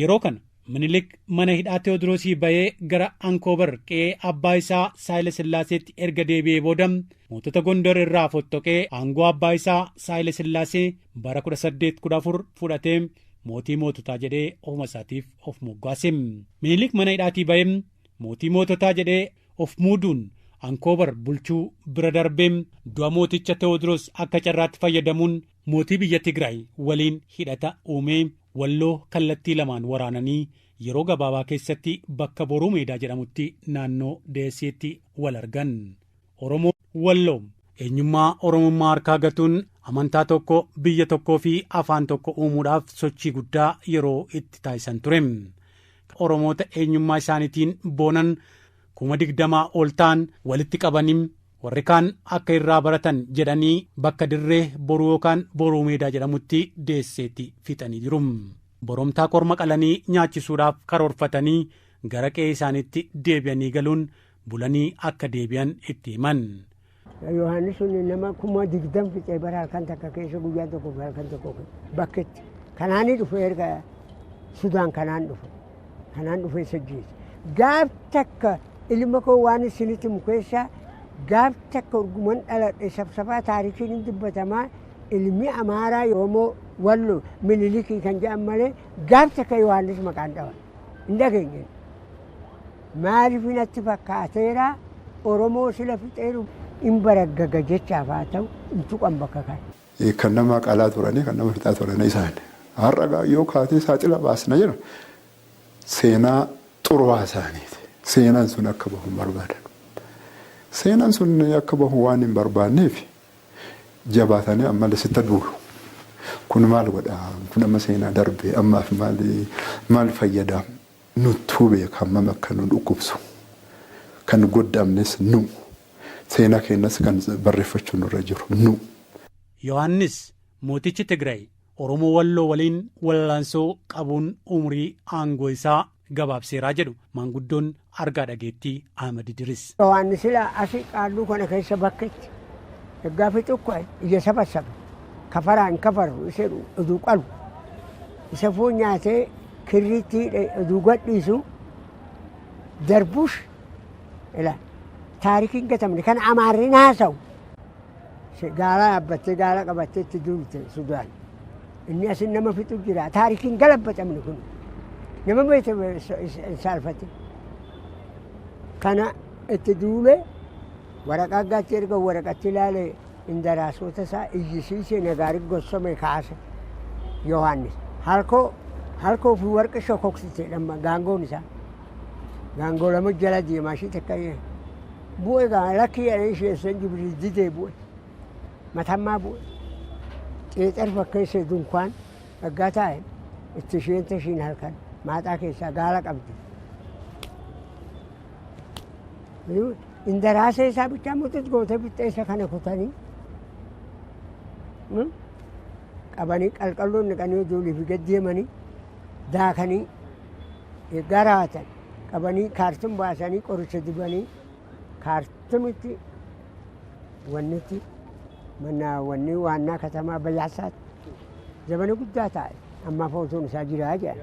Yeroo kana Minilik mana hidhaa Tewoodiroosii ba'ee gara Ankoobar qe'ee abbaa isaa Saayila Sillaaseetti erga deebi'ee booda mootota Gondor irraa fottoqee aangoo abbaa isaa Saayila Sillaasee bara 1814 fudhatee mootii moototaa jedhee ofuma isaatiif of moggaase. Minilik mana hidhaatii ba'ee mootii moototaa jedhee of muuduun Ankoobar bulchuu bira darbee du'a mooticha Tewoodiroos akka carraatti fayyadamuun Mootii biyya Tigraay waliin hidhata uumee Walloo kallattii lamaan waraananii yeroo gabaabaa keessatti bakka Boruu Meedaa jedhamutti naannoo Deeseetti wal argan. Oromoon Walloo. Eenyummaa Oromummaa harkaa gatuun amantaa tokko, biyya tokkoo fi afaan tokko uumuudhaaf sochii guddaa yeroo itti taasisan ture. Kan Oromoota eenyummaa isaaniitiin boonan kuma digdamaa ol ta'an walitti qabanii Warri kaan akka irraa baratan jedhanii bakka dirree boruu yookaan boruu meedaa jedhamutti deesseetti fixanii jiru. Boromtaa korma qalanii nyaachisuudhaaf karoorfatanii gara qe'ee isaaniitti deebi'anii galuun bulanii akka deebi'an itti himan. Yohaannis sun nama kuma digdam fixee bara halkan takka keessa guyyaa tokko fi halkan tokko bakketti. Kanaanii dhufe erga Sudaan kanaan dhufe. Kanaan dhufee isa ajjeese. Gaaf takka ilma koo waan isinitti himu keessaa gaaf takka urguman dhaladhe sabsabaa taarikiin hin dubbatamaa ilmi Amaaraa yoomoo wallo mililikii kan jedhan malee gaaf takka Yohaannis maqaan dhawa. Hin dhageenye. Maaliif natti fakkaateera Oromoo sila fixeeru hin baraggaga jechaaf haa ta'u hin tuqan bakka kana. Kan nama qalaa turanii kan nama fixaa turanii isaan. Har'a gaa yoo kaatee saaxila baasna jedhan seenaa xurwaa isaaniiti. Seenaan sun akka bahu hin barbaadan. Seenaan sun akka bahu waan hin barbaanneef jabaatanii ammallee sitta duulu. Kun maal godha? Kun amma seenaa darbe ammaaf maal maal fayyada? Nuttuu beeka hammam akka nu dhukkubsu. Kan goddamnes nu. Seenaa keenyas kan barreeffachuu nurra jiru nu. Yohaannis, mootichi Tigraay Oromoo Walloo waliin wallaansoo qabuun umurii aangoo isaa gabaabseera jedhu maanguddoon argaa dhageettii Ahmad Idiris. Yohaannis sila asi qaalluu kana keessa bakka itti ergaa fixu ka'e ija sabassabe kafaraa hin kafarru isa jedhu oduu qalu isa foon nyaatee kirriitti hidhe oduu gadhiisu darbush Ilaal. Taarikii hin gatamne kan Amaarri naasawu. Gaala yaabbattee gaala qabattee itti duulte Sudaan. Inni asin nama fixu jira. Taarikii hin galabbatamne kun. Nama beekte hin saalfate. Kana itti duule waraqaa gaatti erga waraqatti ilaale indaraasota isaa iyyisiise nagaari gossome kaase Yohaannis. Halkoo halkoo fi warqi shokoksite dhamma gaangoon isaa. gaangoo lama jala deemaa ishii takka bu'e gaa lakkii jedhanii isheessan jibrii didee bu'e matammaa bu'e xeexar fakkeessee dunkaan dhaggaa taa'e itti isheen tashiin halkan maaxaa keessaa gaala qabdi. Indaraasee isaa bichaa muxuxu gootee bixxeessa kana kutanii qabanii qalqalloon naqanii ijoollee fi gad deemanii daakanii gara hatan qabanii kaartum baasanii qoricha dibanii kaartumitti wannitti mana wanni waannaa katamaa bayyaasaatti zabana guddaa taa'e ammaaf otuun isaa jiraa jedhan.